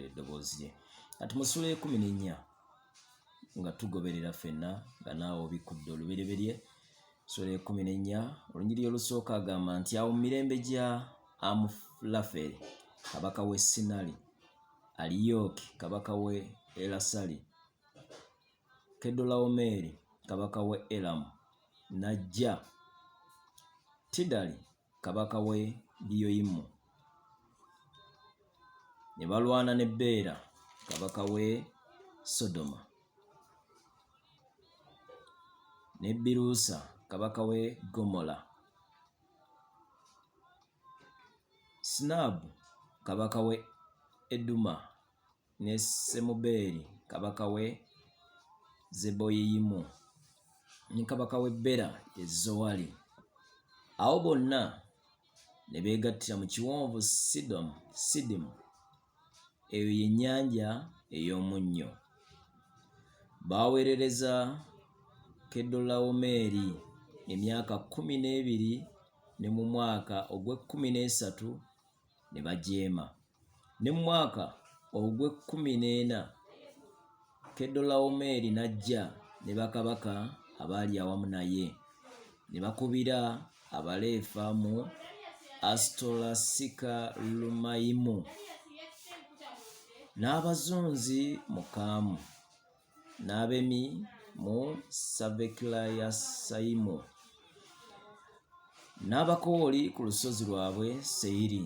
okuwulira eddoboozi lye kati mu sula ekumi n'ennya nga tugoberera fenna nga naawe obikkudde olubereberye sula ekumi n'ennya olunyiriri olusooka agamba nti awo mu mirembe gya amulaferi kabaka w'e sinali aliyooki kabaka w'e elasali kedolawomeeri kabaka w'e elamu n'ajja tidali kabaka w'e Giyoyimu, ne balwana ne Bbeera kabaka w'e Sodoma, ne Biruusa kabaka w'e Ggomola, Sinaabu kabaka w'e Eduma, ne Semubeeri kabaka w'e Zeboyiyimu ne kabaka w'e Bera e Zowali. Awo bonna ne beegattira mu kiwonvu Sidomu, Sidimu, eyo ye nnyanja ey'omunnyo. Baaweerereza Kedolawomeeri emyaka kkumi n'ebiri ne mu mwaka ogw'ekkumi n'esatu ne bajeema. Ne mu mwaka ogw'ekkumi n'ena Kedolawomeeri n'ajja ne bakabaka abaali awamu naye, ne bakubira Abaleefa mu Asitolasika Lumayimu n'abazunzi mu Kaamu. n'abemi mu savekilayasayimu n'abakooli ku lusozi lwabwe seyiri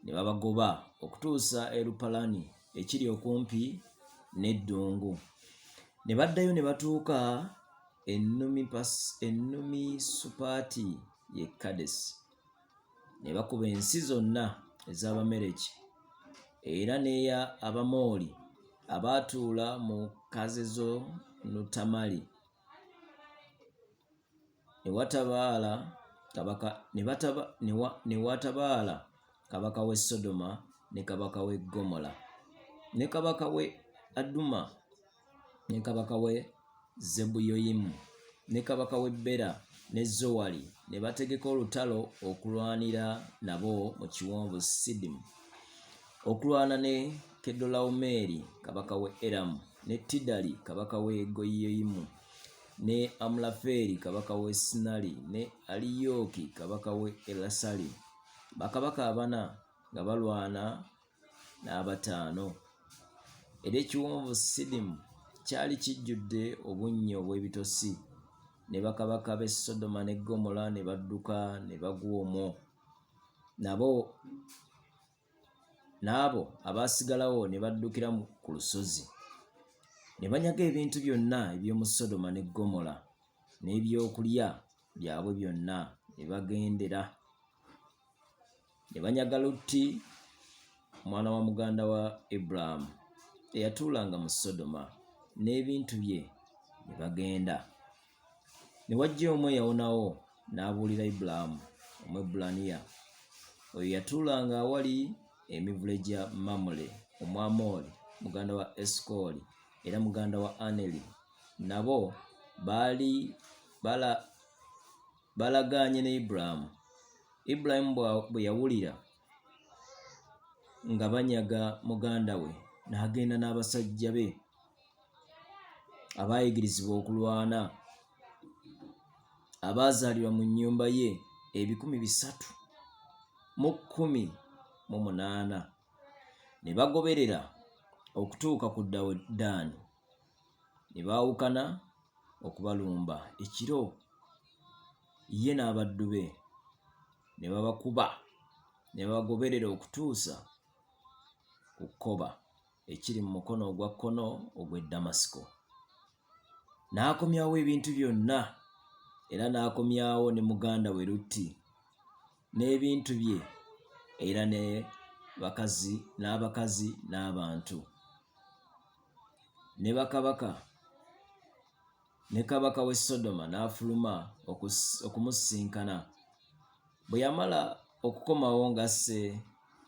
ne babagoba okutuusa erupalani ekiri okumpi n'eddungu ne baddayo ne batuuka ennumi supaati ye kadesi ne bakuba ensi zonna ez'Abamereki era n'eya Abamooli abaatuula mu Kazezonutamali. Ne watabaala kabaka ne bataba ne wa ne watabaala kabaka w'e Sodoma ne kabaka w'e Ggomola ne kabaka w'e Aduma. ne kabaka w'e Zebuyoyimu ne kabaka w'e Bera ne Zowali ne bategeka olutalo okulwanira nabo mu kiwonvu Sidimu, okulwana ne Kedolawumeeri kabaka w'e Eramu ne Tidali kabaka w'e Goyiyoyimu ne Amulafeeri kabaka w'e Sinali ne Aliyooki kabaka w'e Elasali, bakabaka abana nga balwana n'abataano era ekiwonvu sidimu kyali kijjudde obunnyo obw'ebitosi ne bakabaka b'e sodoma ne gomola ne badduka ne bagwa omwo nabo n'abo abaasigalawo ne baddukira ku lusozi ne banyaga ebintu byonna eby'omu sodoma ne gomola n'ebyokulya byabwe byonna ne bagendera ne banyaga Lutti omwana wa muganda wa Ibulaamu eyatuulanga mu Sodoma n'ebintu bye ne bagenda. Ne wajja omu eyawonawo n'abuulira Ibulaamu Omwebbulaniya oyo yatuulanga awali emivule gya Mamule Omwamooli muganda wa Esikooli era muganda wa Aneri nabo baali bala balagaanye ne Ibulayimu. Ibulayimu bwe yawulira nga banyaga muganda we n'agenda n'abasajja be abaayigirizibwa okulwana abaazaalirwa mu nnyumba ye ebikumi bisatu mu kkumi mu munaana ne bagoberera okutuuka ku Dawuddaani. ne baawukana okubalumba ekiro ye n'abaddu be ne babakuba ne babagoberera okutuusa ku Koba ekiri mu mukono ogwa kkono ogw'e Damasiko. N'akomyawo ebintu byonna era n'akomyawo ne muganda we Lutti n'ebintu bye era ne bakazi n'abakazi n'abantu. ne bakabaka ne kabaka w'e Sodoma n'afuluma okumusisinkana. Bwe yamala okukomawo ng'asse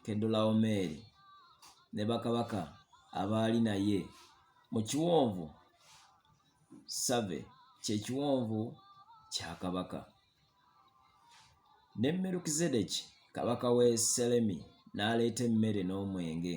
Kedolawomeeri ne bakabaka abaali naye mu kiwonvu Save, kye kiwonvu kya kabaka. Ne Merukizedeki kabaka w'e Selemi n'aleeta emmere n'omwenge.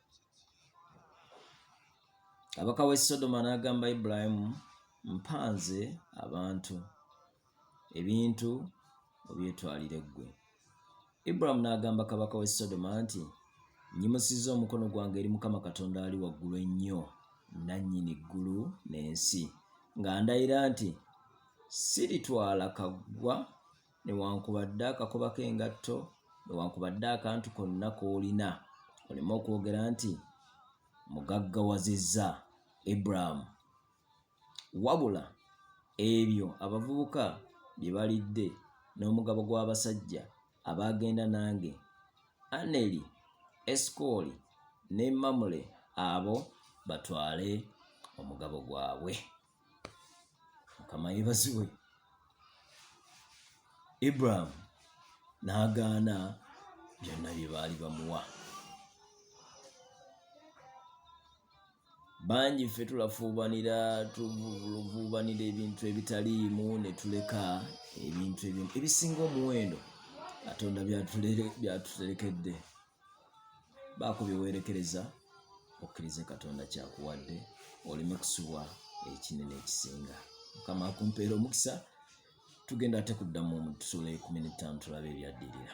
kabaka w'e sodoma n'agamba ibulayimu mpanze abantu ebintu obyetwalire ggwe ibulamu n'agamba kabaka w'e sodoma nti nyimusizza omukono gwange eri mukama katonda ali waggulu ennyo nannyini ggulu n'ensi nga ndayira nti siritwala kaggwa Newankubadde akakoba k'engatto, newankubadde akantu konna k'olina, oleme okwogera nti, Mmugaggawazizza Abraham. Wabula, ebyo abavubuka bye balidde n'omugabo gw'abasajja abaagenda nange, Aneri, Esukooli, ne Mamule, abo batwale omugabo gwabwe. mukama yebaziwe ibrahim n'agaana byonna bye baali bamuwa bangi ffe tulafuubanira tuluvuubanira ebintu ebitaliimu ne tuleka ebintu ebimu ebisinga omuwendo katonda byatuterekedde baako bye weerekereza okkirize katonda kyakuwadde oleme kusubwa ekinene ekisinga mukama akumpeera omukisa tugenda ate kuddamu omutusula ekumi n'ettaano tulabe ebyaddirira